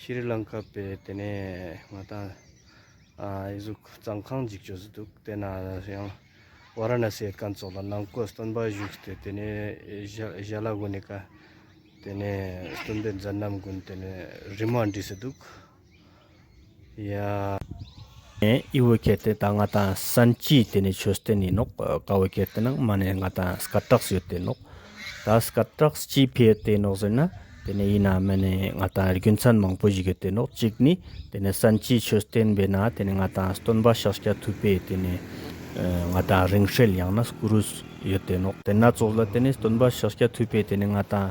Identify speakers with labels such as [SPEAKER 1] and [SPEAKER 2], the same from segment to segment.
[SPEAKER 1] ཤི་རི་ལང་ཀཱ་པས་དེ་ནས་ང་དང་ཨེ་གཟུགས་གཙང་ཁང་འཇིག་བྱོས་སུ་འདུག་དེ་ན་ཡང་བྷ་ར་ན་སེའི་ཀན་ཙོག་ལ་ནང་བསྐོས་སྟོན་པ་བཞུགས་ཏེ་དེ་ནས་ཞཱ་ལ་གོ་ནི་ཀ་དེ་ནས་སྟོན་པའི་མཛད་རྣམ་དགོན་དེ་ནས་རི་མ་འབྲི་སུ་འདུག། ཡང་ཨི་བོ་ཁེ་ཏེ་དང་ང་དང་སན་ཅིའི་དེ་ནས་ཆོས་སྟེ་ནི་ནོག་ཀ་བོ་ཁེ་ཏེ་ནང་མ་ནས་ང་དང་སྐར་གྲགས་ཡོད་དེ་ནོག་ད་སྐར་གྲགས་ཅིའི་ཕེ་ཡོད་དེ་ནོག་ཟེར་ན་དེ་ནས་ཡིན་ན་མེ་ནས་ང་དང་རྒྱུ་མཚན་མང་པོ་ཞིག་ཡོད་དེ་ནོག་གཅིག་ནི་དེ་ནས་སན་ཅིའི་ཆོས་སྟེན་པས་ན་དེ་ནས་ང་དང་སྟོན་པ་ཤཱཀྱ་ཐུབ་པས་དེ་ནས་ང་དང་རིང་བསྲེལ་ཡང་ན་སྐུ་རུས་ཡོད་དེ་ནོག་དེ་ན་ཙོག་ལ་དེ་ནས་སྟོན་པ་ཤཱཀྱ་ཐུབ་པས་དེ་ནས་ང་དང།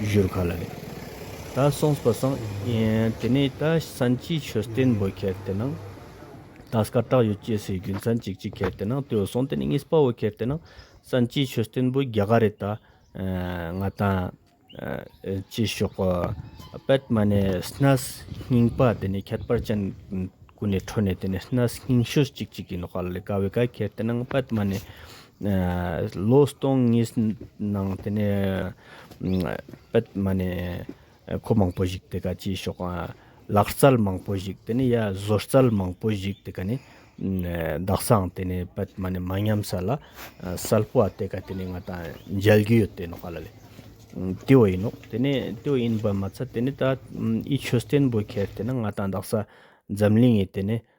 [SPEAKER 1] བཞུར་ག་ལ་ནས་ད་སོང་པ་སང་དེ་ནས་ད་སན་ཅི་ཆོས་བསྟན་འབོད་ཁལ་དེ་ནང་ད་སྐ་བྲག་ཡོད་ཅེས་སའི་རྒྱུ་མཚན་ཅིག་ཅིག་ཁལ་དེ་ནང་དོས་སོང་དེ་ནས་ངས་སྤ་བོ་ཁལ་དེ་ནང་སན་ཅི་ཆོས་བསྟན་འབོད་རྒྱ་ག་རེད་ད་ང་ད་ཅི་ཤོག་པད་མ་ནས་སྣ་སྙིང་པ་དེ་ནས་ཁྱད་པར་ཅན་ཀུ་ནས་འཕྲོ་ནས་དེ་ནས་སྣ་སྙིང་ཤོས་ཅིག་ཅིག་ཡིན་ནོ་ག་ལ་ལས་ག་བའི་ག་ཁལ་དེ་ནང་པད་མ་ནས་ལོ་སྟོང་གཉིས་ནང་དེ་ནས་པད་མ་ནས་ཁོ་མང་པོ་ཞིག་དེ་ག་ཅིག་ཤོག་ལག་རྩལ་མང་པོ་ཞིག་དེ་ནས་ཡ་བཟོ་རྩལ་མང་པོ་ཞིག་དེ་ག་ནས་བདག་སང་དེ་ནས་པད་མ་ནས་མ་ཉམས་ས་ལ་སལ་པོ་བ་དེ་ག་དེ་ནས་ང་ད་མཇལ་རྒྱུ་ཡོད་དེ་ནོག་ལ་ལས་དེ་བ་ཡིན་ནོག་དེ་ནས་དེ་བ་ཡིན་པ་མ་ཚད་དེ་ནས་ད་ཨི་ཆོས་བརྟེན་པོ་ཁེར་དེ་ན་ང་ད་འདག་ས་འཛམ་གླིང་ཡི་དེ་ནས་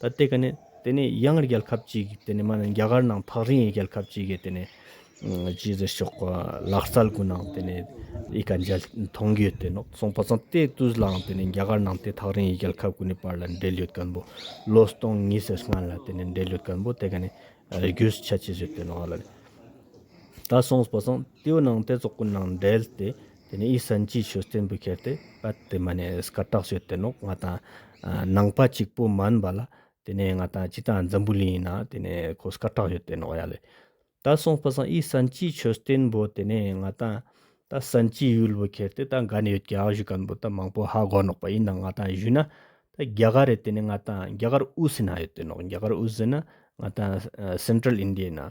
[SPEAKER 1] ད་ལྟའི་ག་ནི་དེ་ནི་ཡང་རྒྱལ་ཁབ་ཅིག་དེ་ནི་མ་ནི་རྒྱ་གར་ནང་ཕག་རིང་ཡི་རྒྱལ་ཁབ་ཅིག་གི་དེ་ནི་ཇི་ཟེར་ཤོག་གོ་ལག་རྩལ་གུ་ནང་དེ་ནི་ཡི་ག་འཇལ་མཐོང་གི་དེ་ནོག་སོང་པ་ཚང་དེ་དུས་ལའང་དེ་ནི་རྒྱ་གར་ནང་དེ་ཐག་རིང་ཡི་རྒྱལ་ཁབ་གུ་ནི་བར་ལ་འབྲེལ་ཡོད་སྐམ་པོ་ལོ་སྟོང་གཉིས་སེར་སྔ་ལ་དེ་ནི་འབྲེལ་ཡོད་སྐམ་པོ་དེ་ག་ནི་རྒྱུས་ཆ་ཅི་ཟེར་དེ་ནོག་ལ་ད་སོང་པ་ཚང་དེའུ་ནང་དེ་ཚོགས་གུ་ནང་འབྲེལ་དེ་དེ་ནས་ཨི་སན་གྱིས་ཆུ་རྟེན་བུ་ཁྱེར་ཏེ་བད་དེ་མ་ནས་སྐར་གྲགས་བྱོས་དེ་ནོག་ང་དང་ནང་པ་གཅིག་པོ་མ་འུན་པ་ལ་དེ་ནས་ང་དང་གཅིག་དང་འཛམ་བུ་ལིན་ཡིན་ན་དེ་ནས་ཁོ་སྐར་གྲགས་བྱོས་དེ་ནོག་ཡ་ལེ། ད་སོང་པ་སང་ཨི་སན་གྱིས་ཆུ་རྟེན་བུ་དེ་ནས་ང་དང་ད་སན་གྱིས་ཡུལ་བུ་ཁྱེར་ཏེ་ད་འགའ་ནས་ཡོད་ཀྱི་ཨ་བཞུ་གན་བུ་ད་མང་པོ་ཧ་གོ་ནོག་པ་ཡིན་ན་ང་དང་བཞུ་ན་ད་རྒྱ་གར་རེད་དེ་ནས་ང་དང་རྒྱ་གར་ཨུ་སི་ན་ཡོད་དེ་ནོག་རྒྱ་གར་ཨུ་སི་ན་ང་དང Central India ཡིན་ན་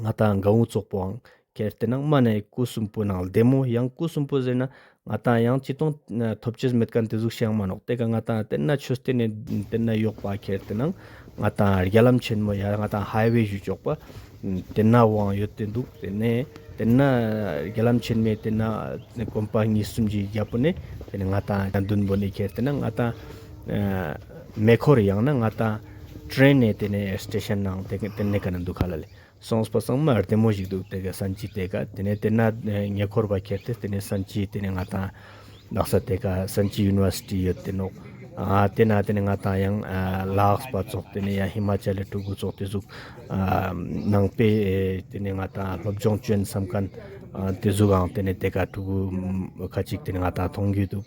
[SPEAKER 1] ང་ལྟ་འགའ་འུ་ཚོགས་པོའང་གལ་ཏེ་ནང་མ་ནས་སྐུ་གསུམ་པོ་ནང་བདེ་མོ་ཡང་སྐུ་གསུམ་པོ་ཟེར་ན་ང་ལྟ་ཡང་ཅི་སྟོང་ཐོབ་ཅེས་མེད་ཀ་འདི་གཟུགས་བྱས་མ་ནོག་དེ་ཀ་ང་ལྟ་དེ་ན་ཆུ་སྟེ་ནས་དེ་ན་གཡོག་པ་གལ་ཏེ་ནང་ང་ལྟ་རྒྱ་ལམ་ཆེན་མོ་ཡང་ང་ལྟ་ཧའི་བའི་བཞུད་གཅོག་པ་དེ་ན་བའང་ཡོད་དེ་འདུག་དེ་ནས་དེ་ན་རྒྱ་ལམ་ཆེན་མོའི་དེ་ན་གོམ་པ་གཉིས་གསུམ་གྱི་རྒྱལ་པོ་ནས་དེ་ནས་ང་ལྟ་བདུན་པོ་ནས་གལ་ཏེ་ནང་ང་ལྟ་མེ་འཁོར་ཡང་ན་ང་ལྟ། ཏྲེན་ནས་དེ་ནས་ཏེ་ཤན་ནང་དེ་ག་དེ་ནས་ག་ན་འདུག་ག་ལ་ལས་སོང་སྤ་སང་མ་རྟེན་མོ་ཞིག་འདུག་དེ་ག་སན་ཅི་དེ་ག་དེ་ནས་དེ་ན་ཉེ་འཁོར་བ་ཁྱེར་ཏེ་དེ་ནས་སན་ཅི་དེ་ནས་ང་དང་ལག་ས་དེ་ག་སན་ཅི University ཡོད་དེ་ནོག་ཨ་དེ་ན་དེ་ནས་ང་དང་ཡང་ལགས་སྤ་ཚོགས་དེ་ནས་ཡང་ཧི་མ་ཅལ་ལ་ཀྲུ་གུ་ཚོགས་དེ་གཟུགས་ཨ་ནང་པས་དེ་ནས་ང་དང་སློབ་སྦྱོང་བཅོན་བསམ་ག་ན་དེ་གཟུགས་ཨང་དེ་ནས་དེ་ག་ཀྲུ་གུ་ཁ་ཅིག་དེ་ནས་ང་དང་མཐོང་རྒྱུ་འདུག།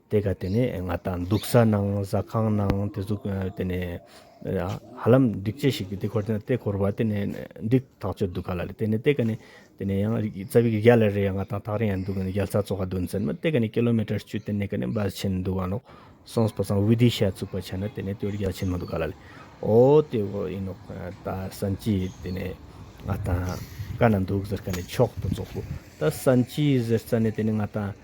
[SPEAKER 1] དེ་ག་དེ་ནས་ང་ད་འདུག་ས་ནང་ཟ་ཁང་ནང་དེ་ཚོ་དེ་ནས་ཧ་ལམ་འགྲིག་ཆེ་ཞིག་དེ་འཁོར་དེ་འཁོར་བ་དེ་ནས་འགྲིག་ཐག་ཆོད་འདུག་ག་ལ་ལས་དེ་ནས་དེ་ག་ནས་དེ་ནས་ཡང་རྩ་བའི་རྒྱ་ལ་རེ་ཡང་ང་ད་ཐག་རིང་ཡང་འདུག་རྒྱ་རྩ་ཚོ་ག་དོན་ཚན་མ་དེ་ག་ནས་ཀི་ལོ་མེ་ཏར་བཅུ་དེ་ནས་ག་ནས་འབའ་ཆེན་འདུག་ག་ནོག་སོང་བ་སང་བྷི་དྷི་ཤ་བཙུགས་པ་ཆ་ན་དེ་ནས་དེ་བས་རྒྱ་ཆེན་མ་འདུག་ག་ལ་ལས་ཨོ་དེ་བས་ཡིན་ནོག་ད་སན་ཅི་དེ་ནས་ང་ད་ག་ན་འདུག་ཟེར་ག་ནས་མཆོག་ཏུ་བཙོག་གོ་ད་སན་ཅི་ཟེར་ས་ནས་དེ་ནས་ང་ད།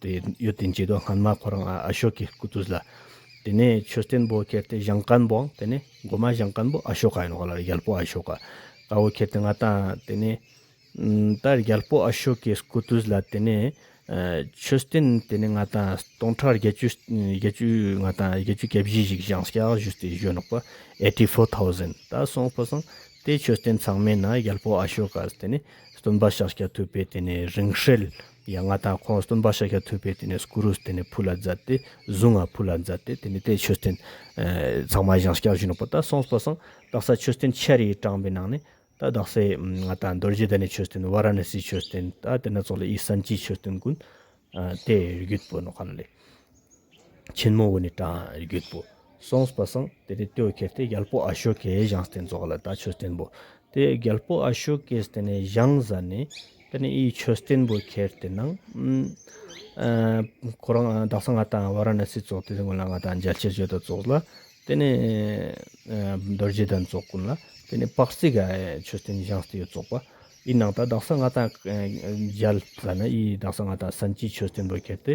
[SPEAKER 1] དེ་ཡོད་དེ་མཆིས་དོ་སྔོན་མ་ཁོ་རང་ཨ་ཤོ་ཀའི་སྐུ་དུས་ལ་དེ་ནས་ཆོས་བསྟན་པོ་ཁྱེར་ཏེ་ཞང་ཀན་པོ་དེ་ནས་འགོ་མ་ཞང་ཀན་པོ་ཨ་ཤོ་ཀ་ཡིན་ནོ་ལ་རྒྱལ་པོ་ཨ་ཤོ་ཀ་དཀར་བོ་ཁྱེར་ཏེ་ང་ད་དེ་ནས་ད་རྒྱལ་པོ་ཨ་ཤོ་ཀའི་སྐུ་དུས་ལ་དེ་ནས་ཆོས་བསྟན་དེ་ནས་ང་ད་སྟོང་ཕྲག་བརྒྱད་ཅུ་བརྒྱད་ཅུ་ང་ད་བརྒྱད་ཅུ་གྱ་བཞི་ཞིག་ཞང་སྐྱ་བཞུ་སྟེ་བཞུ་ནོག་པ eighty four thousand ད་སོང་པོ་སང་དེ་ཆོས་བསྟན་ཚང་མས་ན་རྒྱལ་པོ་ཨ་ཤོ་ཀ་དེ་ནས་སྟོན་པ་ཞག་སྐྱ་ཐུབ་པས་དེ་ནས་རིང་ཧྲལ་ཡང་ང་དང་ཁོང་སྟོན་པ་ཤཱཀྱ་ཐུབ་པས་དེ་ནས་གུ་རུས་དེ་ནས་ཕུ་ལ་མཛད་དེ་གཟུངས་ང་ཕུ་ལ་མཛད་དེ་དེ་ནས་དེས་ཆོས་སྟོན། ཚང་མ་ཞང་སྐྱ་བཞུགས་ནོ་པོ་ད་སོང་པོ་སང་རྡག་ས་ཆོས་སྟོན་ཆེར་ཡིག་དྲངས་པའི་ནང་ནས་ད་རྡག་སའི་ང་དང་རྡོ་རྗེ་དེ་ནས་ཆོས་སྟོན་བྷ་ར་ན་སིའི་ཆོས་སྟོན་ད་དེ་ན་ཚོགས་ལ་ཡིག་བསམ་གྱིས་ཆོས་སྟོན་ཀུན། དེ་རྒྱུད་པོ་ནོ་ག་ལ་ལས། ཆེན་མོ་འོད་ནི་བཀྲ་བརྒྱུད་པོ། གསུངས་པ་གསང་དེ་ནས་བསྟོད་ཁྱེར་ཏེ་རྒྱལ་པོ་ཨ་ཤོ་ཀའི་བཞེངས་བསྟན་རྫོགས་ལ་ད་ཆོས་བསྟན་པོ། དེ་རྒྱལ་པོ་ཨ་ཤོ་ཀས་བསྟན་ནས་བཞེངས་བཟའ་ནས་དེ་ནས་ཡིད་ཆོས་བསྟན་པོ་ཁྱེར་དེ་ནང་ཁོ་རང་བདག་སང་ང་དང་བ་ར་ན་སི་རྫོགས་ཏེ་སྔོན་ལ་ང་དང་མཇལ་ཕྱིར་བྱོས་དང་རྫོགས་ལ་དེ་ནས་རྡོ་རྗེ་དང་རྫོགས་ཀུན་ལ་དེ་ནས་དཔག་ཚད་ཀ་ཆོས་བསྟན་བཞེངས་བསྟན་ཡོད་རྫོགས་པ་ཡི་ནང་དང་བདག་སང་ང་དང་མཇལ་བཟའ་ན་ཡིད་བདག་སང་ང་དང་སན་ཅིག་ཆོས་བསྟན་པོ་ཁྱེར་ཏེ་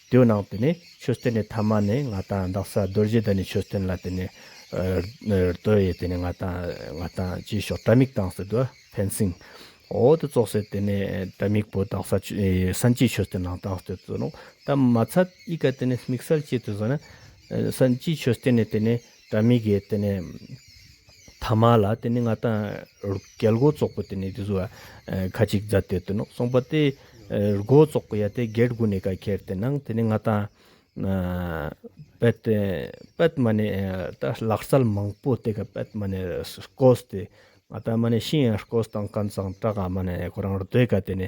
[SPEAKER 1] དེའུ་ནང་དུ་ནི་ཆོས་སྟོན་ནི་ཐ་མ་ནི་ང་དང་བདག་ས་རྡོ་རྗེ་དང་ནི་ཆོས་སྟོན་ལ་དེ་ནི་རྡོ་ཡི་དེ་ནི་ང་དང་ང་དང་ཅི་ཞོག་དྲ་མིག་དང་ཟེར་དུ་ཕན་སྲིང། འོ་དེ་ཙོག་སེ་དེ་ནི་དྲ་མིག་པོ་དང་ས་སན་ཅི་ཆོས་སྟོན་ནང་དང་ཟེར་དུ་ཙོག་ནོ་ད་མ་ཚ་ཨི་ཀ་དེ་ནི་མིག་སལ་ཅི་དུ་ཟེར་ན་ས་ཅི་ཆོས་སྟོན་ནི་དེ་ནི། དྲ་མིག་གི་དེ་ནི་ཐ་མ་ལ་དེ་ནི་ང་དང་རྒྱལ་སྒོ་ཙོག་པོ་དེ་ནི་དེ་ཚོ་ཁ་ཅིག་རྫ་དེ་དུ་ནོག་སོང་པ་དེ་རྒོ་ཙོག་པོ་ཡ་དེ་གེར་གུ་ནི་ག་ཁེར་དེ་ནང་དེ་ནི་ང་དང་པད་དེ་པད་མ་ནི་ད་ལག་སལ་མང་པོ་དེ་ག་པད་མ་ནི་སྐོས་དེ་ང་དང་མ་ནི་ཤིང་ཡང་སྐོས་དང་ཀན་ཙང་བཀྲ་ག་མ་ནི་ཁོ་རང་རྡོས་ག་དེ་ནི་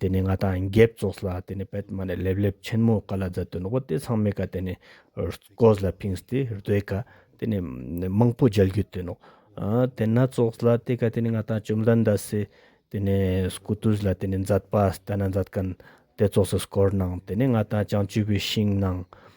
[SPEAKER 1] དེ་ནས་ང་དང་འགེབས་རྩོགས་ལ་དེ་ནས་པདྨ་ནས་ལེབ་ལེབ་ཆེན་མོ་ཀ་ལ་ཛར་དུ་འདུག་པ་དེ་ཚང་མེད་ཀ་དེ་ནས་རྩོགས་ལ་ཕིང་སྟེ་རྡོས་ཀ་དེ་ནས་མང་པོ་སྦྱར་རྒྱུ་དེ་ནོག་དེ་ན་རྩོགས་ལ་དེ་ཀ་དེ་ནས་ང་དང་བཅོམ་ལྡན་འདས་སེ་དེ་ནས་སྐུ་དུས་ལ་དེ་ནས་མཛད་པ་ལྟ་ན་མཛད་ཀན་དེ་རྩོགས་སུ་སྐོར་གནང་དེ་ནས་ང་དང་ཅང་བཅུ་པའི་ཤིང་གནང་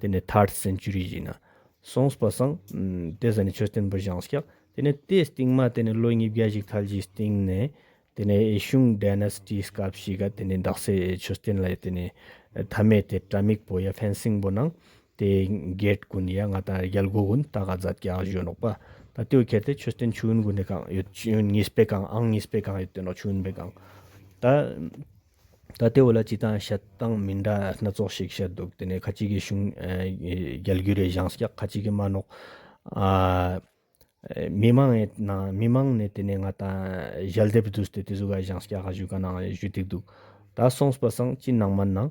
[SPEAKER 1] དེ་ནི third century ཞིག་ན་གསུངས་པ་སང་དེ་ཟེར་ནས་ཆོས་བསྟན་པར་བཞེངས་སྐྱག་དེ་ནི་དེའི་སྟེང་མ་དེ་ནི་ལོ་ཉིས་བརྒྱ་ཞིག་ཐལ་གྱི་སྟེང་ནས་དེ་ནི་ཨེ་ཤུང dynasty སྐབས་ཤིག་ག་དེ་ནི་འདག་སའི་ཆོས་བསྟན་ལ་དེ་ནི་ཐ་མའི་དེ་དྲ་མིག་པོ་ཡ fencing པོ་ནང་དེ gate ཀུན་ཡ་ང་དང་རྒྱལ་སྒོ་ཀུན་ད་ག་རྫ་སྐྱག་བཞོན་རོགས་པ་ད་ལྟོས་ཁྱེར་དེ་ཆོས་བསྟན་ཆུ་བོན་ཀུན་ནས་གང་ཡོད་ཆུ་བོན་གཉིས་པའི་གང་ཨང་གཉིས་པའི་གང་ཡོད་དེ་ནོ་ཆུ་བོན་པའི་གང་ད། ད་ལྟའི་བོད་ལ་སྤྱི་བཏང་བཤད་སྟངས་མི་འདྲ་སྣ་ཚོགས་ཤིག་བཤད་འདུག་དེ་ནས་ཁ་ཅིག་གིས་གཞུང་རྒྱལ་རྒྱུ་རེད་བཞེངས་སྐྱག་ཁ་ཅིག་གིས་མ་ནོག། མི་མང་ནས་ནང་མི་མང་ནས་དེ་ནས་ང་ད་ཞལ་འདེབས་བསྡུས་ཏེ་དེ་ཟུ་ག་བཞེངས་སྐྱག་ཧ་ཞུས་ག་ནང་ཞུས་ཏེ་འདུག་ད་སོང་སྤ་སངས་སྤྱི་ནང་མ་ནང་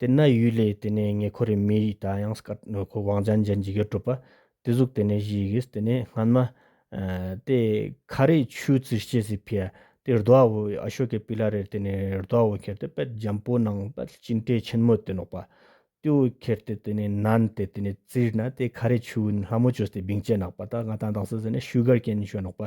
[SPEAKER 1] དེ་ན་ཡུལ་ལས་དེ་ནས་ངེ་འཁོར་རེ་མི་ཡི་ད་ཡང་སྐར་དངོས་ཁོ་བང་ཅན་ཅན་འཇིགས་ཡེར་གྲུབ་པ་དེ་གཟུགས་དེ་ནས་བཞི་ཡི་གིས་དེ་ནས་སྔན་མ། དེ་ཁ་རས་ཆུ་རྩི་སྐྱེས་སི་ཕི་ཡ་དེ་རྡོ་ཨ་བོ་ཨ་ཤོ་ཀའི་པི་ལ་རེར་དེ་ནས་རྡོ་ཨ་བོ་ཁྱེར་དེ་དཔལ་རྒྱན་པོ་ནང་དཔལ་སྐྱིན་ཏའི་ཆེན་མོ་དེ་ནོག་པ་ཏུའུ་ཁྱེར་དེ་དེ་ནས་ནན་དེ་དེ་ནས་རྩིར་ན་དེ་ཁ་རས་ཆུ་ལྷ་མོ་ཆོས་དེ་བིང་ཅན་ནག་པ་ད་ང་ད་འདང་སི་ཟི་ནས་ཤུ་གར་ཀན་ཤོས་ནོག་པ་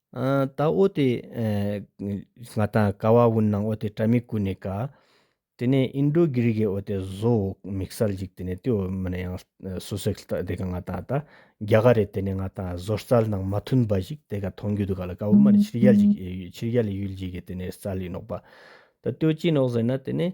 [SPEAKER 1] ད་ཨོ་དེ། ང་དང་ཀ་བ་བུན་ནང་ཨོ་དེ་ཏྲ་མི་ཀུ་ནེ་ཀ། དེ་ནས་ཨིན་དྲོ་གྷི་རི་གྷེ་ཨོ་དེ་བཟོ་མིག་སར་འཇིག་དེ་ནས་དེ་ཨོ་མི་ནེ་ཡང་སུ་སེག་ལྟ་དེ་ག་ང་དང་ད་རྒྱ་ག་རེད་དེ་ནས་ང་དང་བཟོ་རྩལ་ནང་མ་མཐུན་པ་ཞིག་དེ་ག་མཐོང་རྒྱུ་འདུག་ག་ལ་ཀ་བུ་མ་ནི་ཕྱིར་རྒྱལ་ཞིག་ཕྱིར་རྒྱལ་ཡུལ་ཞིག་གི་དེ་ནས་རྩལ་ཡིན་ནོག་པ། ད་དོ་ཅི་ནོག་ཟེར་ན་དེ་ནས།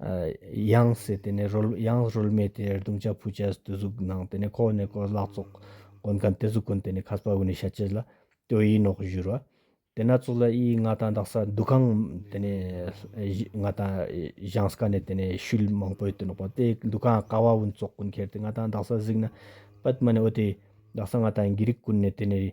[SPEAKER 1] དབྱངས་ཟེར་དེ་ནས་དབྱངས་རོལ་མོས་དེ་རྡུང་བྱ་ཕུད་བྱ་དུས་གཟུགས་ནང་དེ་ནས་ཁོག་ནས་ཁོག་ལག་བཙོག་གོན་མཁན་དེ་གཟུགས་གོན་དེ་ནས་ཁ་སྤ་བུ་ནས་ཤ་ཆེ་ལ་སྟོད་ཡིག་ནོག་བཞུར་བ། དེ་ན་ཙུག་ལ་དབྱིའི་མངའ་ཐང་འདག་ས་འདུ་ཁང་དེ་ནས་མངའ་ཐང་བཞེངས་ས་ཀ་ནས་དེ་ནས་ཤུལ་མང་པོའི་དུ་ནོག་པ་དེ་འདུ་ཁང་ཀ་བ་བུན་བཙོག་གོན་ཁེར་དེ་མངའ་ཐང་འདག་ས་གཟིགས་ན་པད་མ་ནས་ཨོ་དེ་འདག་ས་མངའ་ཐང་གི་རིགས་ཀུན་ནས་དེ་ནས་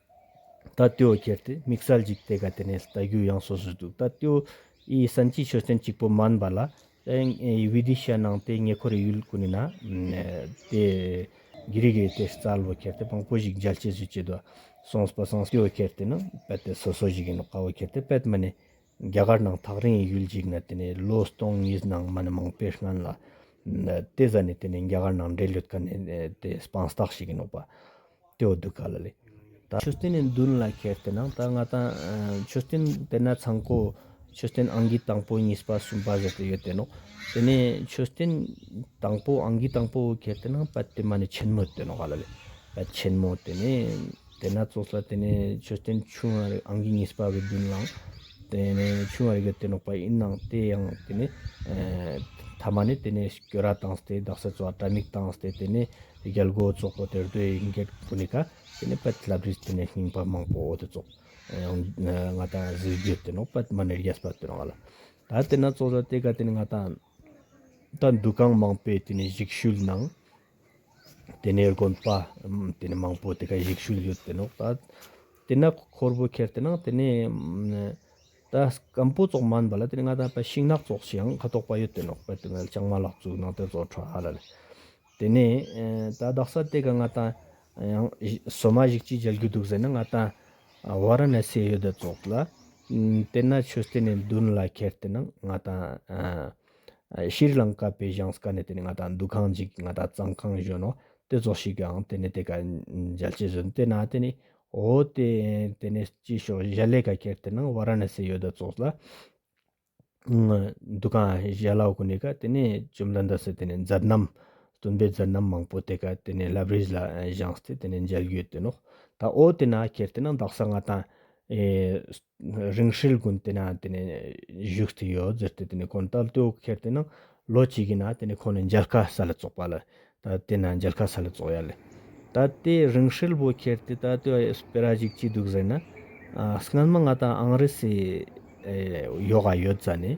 [SPEAKER 1] ད་ལྟོས་ཁྱེར་ཏེ་མིག་སལ་གཅིག་དེ་ག་དེ་ནས་ལྟ་རྒྱུ་ཡང་སོ་སོ་འདུག་ད་ལྟོས་ཨི་ས་འཁྱིལ་ཆོས་ཚན་གཅིག་པོ་མཱན་བ་ལ་བྷི་དི་ཤ་ནང་དེ་ཉེ་འཁོར་ཡུལ་ཀུ་ནི་ན་དེ་གི་རིགས་ཡོད་དེ་རྩ་ལོ་ཁྱེར་ཏེ་དཔང་པོ་ཞིག་མཇལ་སྐྱེས་སུ་བྱེད་དོ་སོང་སྤ་སང་ལྟོས་ཁྱེར་ཏེ་ནི་པད་དེ་སོ་སོ་ཞིག་ཡིན་ནོ་ཁ་བོ་ཁྱེར་ཏེ་པད་མི་ནི་རྒྱ་གར་ནང་ཐག་རིང་ཡུལ་གཅིག་ན་དེ་ནས་ལོ་སྟོང་གཉིས་ནང་མི་ནི་མང་པོས་སྨན་ལ། དེ་བཟའ་ནས་དེ་ནས་རྒྱ་གར་ནང་འདྲེ་ལུད་ཀ་ནས་དེ་སྤང་བརྟག་བྱེད་ཀྱི་འདུག་པ། དེའོ་སྡུག་ག་ལ་ལས། ད། ཆུ་སྟེང་ནས་མདུན་ལ་ཁྱེར་དེ་ནང་ད་ང་ད། ཆུ་སྟེང་དེ་ན་ཚང་ཁོ། ཆུ་སྟེང་ཨང་ཀི་དང་པོ་གཉིས་པ་གསུམ་པ་ཟེར་དུ་ཡོད་དེ་ནོ། དེ་ནས་ཆུ་སྟེང་དང་པོ་ཨང་ཀི་དང་པོ་ཁྱེར་དེ་ནང་པད་དེ་མ་ནི་ཆེན་མོ་དེ་ནོ་ག་ལ་ལས། པད་ཆེན་མོ་དེ་ནས། དེ་ནས་ཚོགས་བསགས་དེ་ནས་མཆོད་རྟེན་ཆུང་བ་རེ་ཨང་ཀི་གཉིས་པ་བའི་མདུན་ལམ་དེ་ནས་ཆུང་བ་རེ་གི་དེ་ནོག་པ་ཡིན་ནང་དེ་ཡང་དེ་ནས་ཐ་མ་ནས་དེ་ནས་སྐྱོ་ར་དང་སྟེ་རྡག་སེ་ཚོགས་དྲ་མིག་དང་སྟེ་དེ་ནས་རྒྱལ་སྒོ་ཚོགས་པོ་དེར་དོའི་ཡིན་སྐད་ཕུ་ནི་ཀ་དེ་ནས་པད་བླ་བྲིས་དེ་ནས་སྙིང་པ་མང་པོ་འོ་དེ་ཚོགས་ང་ད་གཟིགས་རྒྱུ་དེ་ནོག་པད་མ་ནེར་རྒྱས་པ་དེ་ནོག་ལ་ད་དེ་ནས་ཚོགས་བསགས་དེ་ག་དེ་ནས་ང་ད་ད་འདུ་ཁང་མང་པོས་དེ་ནས་གཞིགས་ཤུལ་ནང་དེ་ནས་དགོན་པ་དེ་ནས་མང་པོ་དེ་ག་ཡིག་ཤུལ་ཡོད་དེ་ནོ་ད་དེ་ན་ཁོར་བུ་ཁྱེར་དེ་ན་དེ་ནས་ད་སྐམ་པོ་ཙོག་མན་པ་ལ་དེ་ནས་ང་ད་པ་ཤིང་ནག་ཙོག་ཤིང་ཁ་དོག་པ་ཡོད་དེ་ནོ་པ་དེ་ནས་ལྕང་མ་ལག་ཙུག་ནང་དེ་ཙོག་ཁྲ་ཧ་ལ་ལ་དེ་ནས་ད་རྡག་ས་དེ་ག་ང་ད་ཡང་སོ་མ་ཞིག་ཅིག་འཇལ་རྒྱུ་འདུག་ཟེར་ན་ང་ད་བྷ་ར་ན་སེ་ཡོད་དེ་ཙོག་ལ་དེ་ན་ཆོས་དེ་ནས་མདུན་ལ་ཁྱེར་དེ་ན་ང་ད། ཤྲཱི་རི་ལངྐ་པའི་གཞང་སྐར་ནས་དེ་ནས་ང་དང་འདུ་ཁང་འཇིག་ང་དང་གཙང་ཁང་གཞོན་ནུ་དེ་ཚོ་ཞིག་གིའང་དེ་ནས་དེ་ག་འཇལ་སྐྱེས་བཟོས་འདི་ན་དེ་ནས་འོ་དེ་དེ་ནས་སྐྱིད་ཤོག་གཞལ་ལས་ག་ཁྱེར་དེ་ནང་བ་ར་ན་སི་ཡོད་དོ་ཙོག་ལ། འདུ་ཁང་གཞལ་ལ་གོ་ནས་ག་དེ་ནས་ཅུམ་ལ་འདི་སི་དེ་ནས་མཛད་རྣམ་སྟོན་པའི་མཛད་རྣམ་མང་པོ་དེ་ག་དེ་ནས་ལབ་རིས་ལ་གཞང་སྟེ་དེ་ནས་འཇལ་ཡོད་དོ་ནོ་ད་འོ་དེ་ན་ཁྱེར་དེ་ནང་བདག་ས་ང་དང། རིང་ཧྲིལ་དགོན་དེ་ན་བཞུགས་ཏེ་ཡོད་ཟེར་ཏེ་དགོན་དག་ལྟོས་ཀྱི་ཁེར་དེ་ན་ལོ་གཅིག་གི་ན་ཁོང་ནི་མཇལ་ཁ་ས་ལ་བཙོག་པ་ལ་ད་དེ་ན་མཇལ་ཁ་ས་ལ་བཙོག་ཡ་ལ་ད་དེ་རིང་ཧྲིལ་བོ་ཁེར་དེ་ད་ལྟོས་སྤེ་ར་ཞིག་ཅི་འདུག་ཟེར་ན། སྔོན་མ་ང་དང་ཨང་རི་སི་ཡོ་ག་ཡོད་ཙ་ནས།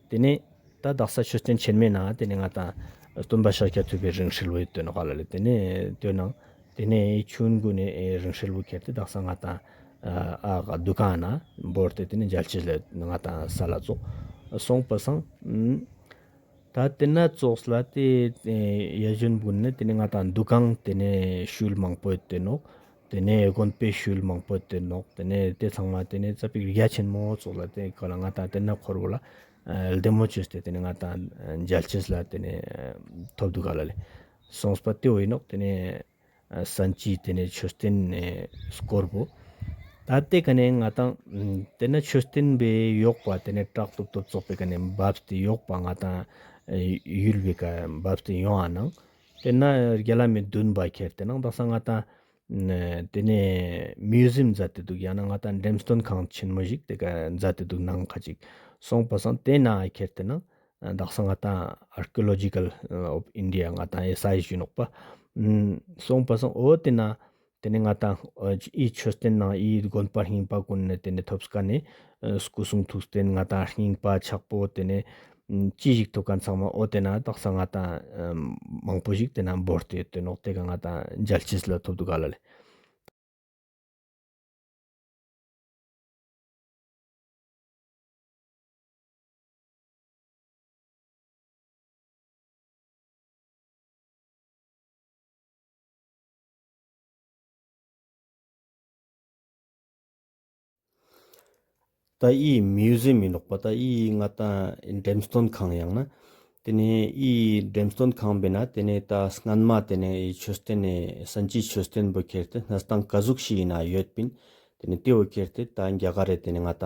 [SPEAKER 1] དེ་ནས་ད་བདག་ས་ཆོས་བསྟན་ཆེར་མེད་ནའང་དེ་ནས་ང་དང་སྟོན་པ་ཤཱཀྱ་ཐུབ་པའི་རིང་ཧྲིལ་བོའི་སྟོན་དཔའ་ལ་ལས་དེ་ནས་སྟོན་གནང། དེ་ནས་ཁྱོད་མགོ་ནས་རིང་ཧྲིལ་བོ་ཁྱེར་ཏེ་བདག་ས་ང་དང་བསྡུ་གང་ན་འབོར་ཏེ་དེ་ནས་འཇལ་བྱེད་ལས་ང་དང་ས་ལ་བཙོགས། སོང་པ་སང། ད་དེ་ན་བཙོགས་ལ་དེ་ཡ་གཞོན་དགུ་ནི་དེ་ནས་ང་དང་འདུ་གང་དེ་ནས་ཤུལ་མང་པོའི་སྟོན་ནོག། དེ་ནས་དགོན་དཔེ་ཤུལ་མང་པོ་དེ་ནོག་དེ་ནས་དེ་ཚང་མ་དེ་ནས་རྩ་བའི་རྒྱ་ཆེན་མོ་སོགས་ལ་དེ་ག་ལ་ང་དང་དེ་ན་འཁོར་བ་ལ་ལྡེ་མོ་བཅོས་ཏེ་དེ་ནས་ང་དང་འཇལ་ཆེས་ལ་དེ་ནས་ཐོབ་བསྡུ་ག་ལ་ལས་གསུངས་པ་དེ་འོས་ནོག་དེ་ནས་གསན་གྱིས་དེ་ནས་མཆོད་རྟེན་ནས་བསྐོར་བོ། ད་དེ་ག་ནས་ང་དང་དེ་ན་མཆོད་རྟེན་པའི་གཡོག་པ་དེ་ནས་བྲག་སྟོབས་སྟོབས་བཙོག་པའི་ག་ནས་འབབ་སྟེ་གཡོག་པ་ང་དང་ཡུལ་བའི་ག་འབབ་སྟེ་ཡོང་ཨ་ནང། དེ་ན་རྒྱ་ལ་མི་བདུན་པ་ཁྱེར་ཏེ་ནང་དང་ས་ང་དང། དེ་ནས Museum མཛའ་སྟེ་འདུག་ཡང་ན་ང་དང་འགྲེམས་སྟོན་ཁང་ཆེན་མོ་ཞིག་དེ་ག་མཛའ་སྟེ་འདུག་ནང་ཁ་ཅིག་སོང་པ་སང་དེ་ན་ཁྱེར་ཏེ་ནང་དང་ས་ང་དང Archaeological of India ང་དང་ཨེ་ས་ཡི་གཞོན་ནུ་པ་སོང་པ་སང་འོ་དེ་ན་དེ་ནས་ང་དང་ཨི་མཆོད་རྟེན་ནང་ཨིའི་དགོན་པ་རྙིང་པ་ཀུན་ནས་དེ་ནས་ཐོབ་སྐ་ནས་སྐུ་གསུང་ཐུགས་རྟེན་ང་དང་རྙིང་པ་ཆགས་པོ་དེ་ནས་ཅི་ཞིག་ཐོབ་ག་མཚང་མ་ཨོ་དེ་ན་དག་ས་ང་དང་མང་པོ་ཞིག་དེ་ན་འབོར་དེ་དོན་ནོག་དེ་ག་ང་དང་འཇལ་ཅི་སི་ལ་ཐོབ་འདུག་ག་ལ་ལས། ད་ཨི་ཡི་མིའུ་ཟིམ་མི་འདོག་པ་ད་ཨི་ཡི་ང་ད་འགྲེམས་སྟོན་ཁང་ཡང་ན་དེ་ནས་ཨི་ཡི་འགྲེམས་སྟོན་ཁང་བས་ན་དེ་ནས་ད་སྔན་མ་དེ་ནས་ཨི་ཡི་ཆོས་སྟོན་ནས་སན་ཅིའི་ཆོས་སྟོན་བུ་ཁེར་དེ་སྣ་སྟང་ག་ཟུག་ཤི་ཡི་ན་ཡོད་པིན་དེ་ནས་དེ་བུ་ཁེར་དེ་ད་འགྱ་ག་རེ་དེ་ནས་ང་ད་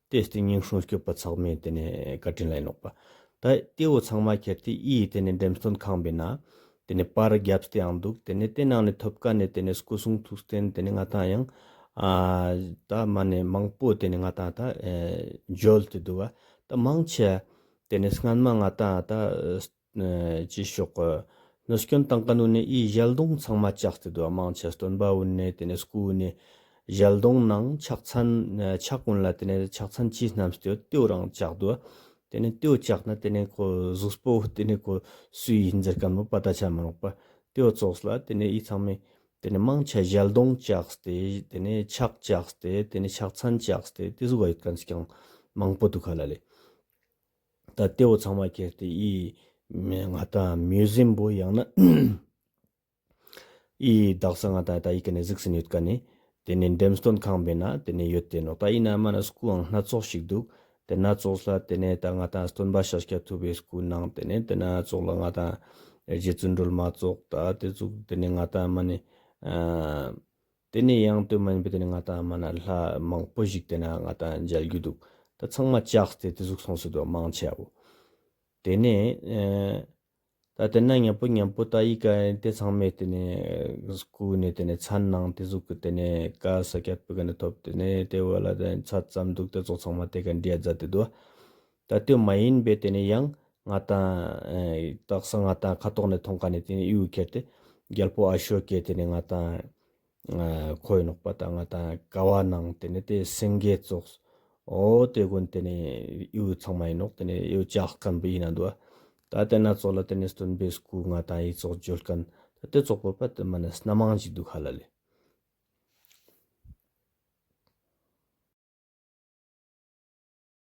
[SPEAKER 1] ལྟོས་ཏེ་སྙིང་ཧྲུང་སྐྱོབ་པ་ཚང་མས་དེ་ནས་བཀའ་དྲིན་ལ་ཡིན་ནོག་པ། ད་ལྟེའུ་ཚང་མ་ཁྱེར་ཏེ་ཨི་ཡི་དེ་ནས་འགྲེམས་སྟོན་ཁང་པའི་ནང། དེ་ནས་པར་རྒྱབ་སྟེ་ཡང་འདུག་དེ་ནས་དེ་ནང་ནས་ཐོབ་དཀའ་ནས་དེ་ནས་སྐུ་གསུང་ཐུགས་རྟེན་དེ་ནས་ང་དང་ཡང། ད་མ་ནས་མང་པོ་དེ་ནས་ང་དང་ད་འཇོལ་ཏེ་འདུག་བ། ད་མང་ཆེ། དེ་ནས་སྔན་མ་ང་དང་ད། ཅེས་ཤོག། ནུ་སྐྱོན་དང་ཀ་ནུ་ནི་དབྱིས་ཞལ་གདོང་ཚང་མ་ལྕགས་ཀྱི་དུ་བ་མང་ཆེ་སྟོན་པ་དབུས་ནས་དེ་ནས་སྐུ་དབུས་ནས། ཞལ་གདོང་ནང་ཕྱག་ཚན་ཕྱག་གོན་ལ་དེ་ནས་ཕྱག་ཚན་གྱིས་རྣམས་སྟེའུ་སྟེའུ་རང་ལྕགས་དུ་བ། དེ་ནས་སྟེའུ་ལྕགས་ནི་དེ་ནས་ཁོ་གཟུགས་སྤོ་བོ་དེ་ནས་ཁོ་སུ་ཡིས་འཛེར་ག་ནུ་པ་ད་ཆ་མི་རུང་པ། སྟེའུ་བཙོགས་ལ་དེ་ནས་དབྱིས་ཚང་མས་དེ་ནས་མང་ཆེ་ཞལ་གདོང་ལྕགས་སྟེ་དེ་ནས་ཕྱག་ལྕགས་སྟེ་དེ་ནས་ཕྱག་ཚན་ལྕགས་སྟེ་དེ་གཟུགས་བ་ཡོད་ག་ནས་ཀྱང་མང་པོ་འདུག་ག་ལ་ལས། ད་ལྟའི་འོ་ཚང་བ་ཁྱེར་ཏེ་ཨི། ང་ད་མུས་བཟིན་པོ་ཡང་ན་ཨི། བདག་ས་ང་ད་ད་ཡི་ག་ནས་གཟིགས་ཟིན་ཡོད་ག་ནས། དེ་ནས་འགྲེམས་སྟོན་ཁང་བས་ན་དེ་ནས་ཡོད་དེ་ནོ་ད་ཡི་ན་མ་ན་སྐུའང་སྣ་ཚོགས་ཤིག་འདུག་དེ་སྣ་ཚོགས་ལ་དེ་ནས་ད་ང་ད་སྟོན་པ་ཤཱཀྱ་ཐུབ་པའི་སྐུ་སྣང་དེ་ནས་དེ་སྣ་ཚོགས་ལ་ང་ད་རྗེ་བཙུན་སྒྲོལ་མ་ཚོགས་ད་དེ་ཚོགས་དེ་ནས་ང་ད་མ་ནས། དེ་ནས་ཡང་སྟོད་སྨད་བོད་དེ་ནས་ང་དང་མ་ན་ལྷ་མང་པོ་ཞིག་དེ་ན་ང་དང་མཇལ་རྒྱུ་འདུག་ད་ཚང་མ་ལྕགས་ཏེ་དེ་གཟུགས་སོང་སྲིད་དོ་མང་ཆེ་བོ། དེ་ནས་ད་དེ་ན་ཉམས་པོ་ཉམས་པོ་ད་ཡིག་ག་ཡིན་དེ་ཚང་མས་དེ་ནས་བསྐུར་ནས་དེ་ནས་ཚར་ནང་དེ་གཟུགས་གི་དེ་ནས་ཀ་ས་སྐྱ་པུ་ག་ནས་ཐོབ་དེ་ནས་དེ་བོད་ལ་དེ་ཚར་ཙམ་འདུག་དེ་ཚོགས་ཚང་མ་དེ་ག་འདྲིའ་རྫ་དེ་དུ། ད་ལྟའི་མ་ཡིན་པའི་དེ་ནས་ཡང་ང་དང། སྟག་ས་ང་དང་ཁ་དོག་ནས་མཐོང་ག་ནས་དེ་ནས་དབྱིའུ་ཁྱེར་ཏེ། རྒྱལ་པོ་ཨ་ཤོ་ཀས་དེ་ནས་ང་དང། ཁོ་ཡི་ནོག་པ་དང་ང་དང་ག་བ་ནང་དེ་ནས་དེ་སེང་གེ་བཙོགས། ཨོ་དེ་དགོན་དེ་ནས་དབྱིའུ་ཚང་མ་ཡིན་ནོག་དེ་ནས་དབྱིའུ་ལྕགས་སྐམ་པོ་ཡིན་ན་འདུག་ཨ། ད་དེ་ན་ཙོག་ལ་དེ་ནས་སྟོན་པས་སྐུ་ང་དང་དབྱི་ཙོགས་འཇོལ་ཀན་ད་དེ་ཙོག་པོ་པ་དེ་མ་ན་སྣ་མང་ཅིག་འདུག་ཧ་ལ་ལས།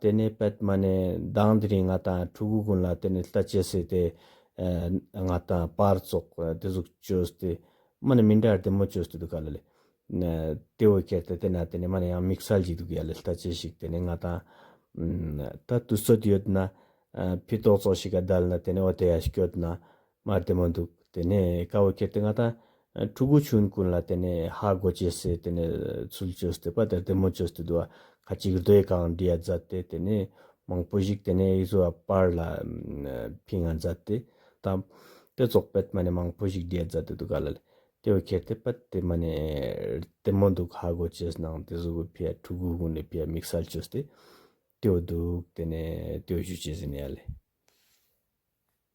[SPEAKER 1] དེ་ནས་པདྨ་ནས་མདངས་དེ་རིང་ང་དང་ཕྲུ་གུ་ཀུན་ལ་དེ་ནས་ལྟ་བྱེད་ཟེར་ཏེ། ང་དང་པར་བཙོག་དེ་གཟུགས་བཅོས་ཏེ། མ་ནི་མི་འདྲ་ར་དེ་མོ་བཅོས་ཏེ་འདུག་ག་ལ་ལས། དེ་འོད་ཁྱེར་ཏེ་དེ་ན་དེ་ནས་མ་ནི་ཡང་མིག་སལ་གྱིས་འདུག་ཡ་ལས་ལྟ་བྱེད་ཞིག་དེ་ནས་ང་དང། ད་དུ་སོད་ཡོད་ན། ཕི་ཏོག་བཙོག་ཞིག་ག་བརྡལ་ན་དེ་ནས་འོ་དེ་ཡ་སྐྱོད་ན། མ་བདེ་མོ་འདུག་དེ་ནས་ཀ་བ་ཁྱེར་ཏེ་ང་དང། ཕྲུ་གུ་ཆུང་ཀུན་ལ་དེ་ནས་ཧ་གོ་བྱས་སེ་དེ་ནས་ཚུལ་འཆོས་སྟེ་པ་དེར་བདེ་མོ་བྱོས་སྟེ་དུ་བ་ཁ་ཅིག་རྡོ་ཡི་ཁང་འདྲིའ་མཛའ་སྟེ་དེ་ནས་མང་པོ་ཞིག་དེ་ནས་ཡིག་བཟོ་བ་པར་ལ་ཕི་ང་མཛའ་སྟེ་དང། དེ་སོགས་པད་མ་ནས་མང་པོ་ཞིག་འདྲིའ་མཛའ་སྟེ་དུ་ག་ལ་ལས་ཀ་བ་ཁྱེར་ཏེ་པད་དེ་མ་ནས་བདེ་མོ་འདུག་ཧ་གོ་བྱས་སུ་ནང་དེ་གཟུགས་ཕི་ཡ་ཕྲུ་གུ་ཀུན་ལས་ཕི་ཡ་མིག་སལ་བྱོས་སྟེ། ཏེའོ་འདུག་དེ་ནས་ཏེའོ་ཞུ་བྱས་སེ་ནས་ཡ་ལས།